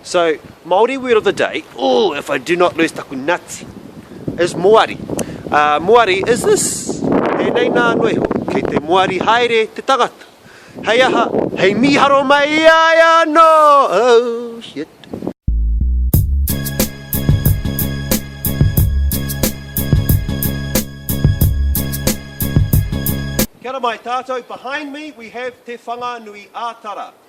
So, Māori word of the day, ooh, if I do not lose taku nuts, is moari. Uh, moari is this, e nei nā noa iho, kei te moari haere te tangata. Hei aha, hei mīharo mai ai anō, oh shit. Kia ora mai tātou, behind me we have Te Whanganui-ā-Tara.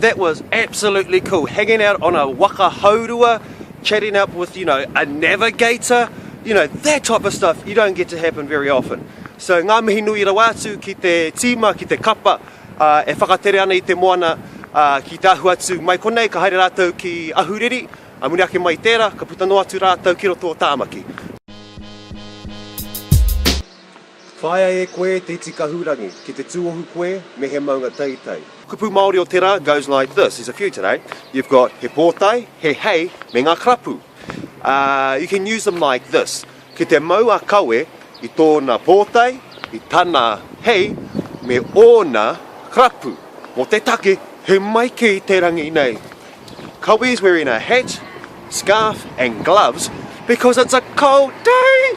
That was absolutely cool, hanging out on a waka haurua, chatting up with, you know, a navigator, you know, that type of stuff you don't get to happen very often. So ngā mihi nui rawa atu ki te tīma, ki te kapa, ā, e whakatere ana i te moana, ā, ki te ahu atu mai konei ka haere rātou ki Ahuriri, ā, muna ake mai i tērā, ka puta noa atu rātou ki roto o Tāmaki. Whāia e koe te iti kahurangi ki te tūohu koe me he maunga teitei. Kupu Māori o tērā goes like this, there's a few today, you've got he pōtae, he hei, me ngā karapu. You can use them like this, ki te mau a Kawe i tōna pōtae, i tana hei, me ōna rapu mō te take he mai kē i te rangi nei. Kawe is wearing a hat, scarf and gloves because it's a cold day!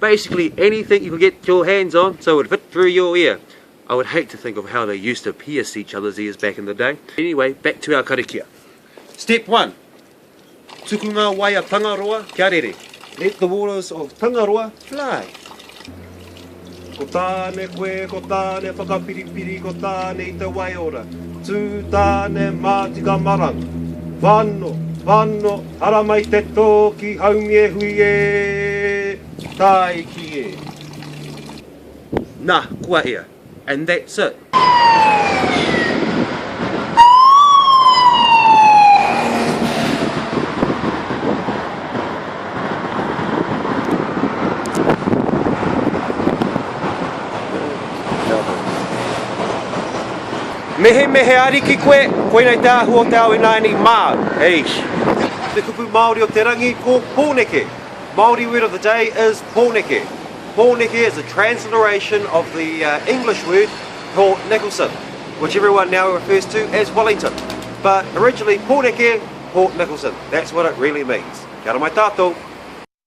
Basically anything you can get your hands on so it would fit through your ear. I would hate to think of how they used to pierce each other's ears back in the day. Anyway, back to our karakia. Step one, Tuku ngā wai a Tangaroa kia rere. Let the waters of Tangaroa fly. Ko Tāne koe, ko Tāne whakapiripiri, ko Tāne i te waiora. Tū Tāne mā tika marang. Whano, whano, Ara mai te tō ki Haumiehui e, Tāiki e. Nā, kua ea. And that's it. Mehemehe ariki koe, koinei te ahu o te ao ināianei māu, eish. Te kupu Māori o te rangi ko Pōneke, Māori word of the day is Pōneke. Pōneke is a transliteration of the English word Port Nicholson, which everyone now refers to as Wellington, but originally Pōneke, Port Nicholson, that's what it really means. Kia ora mai tātou.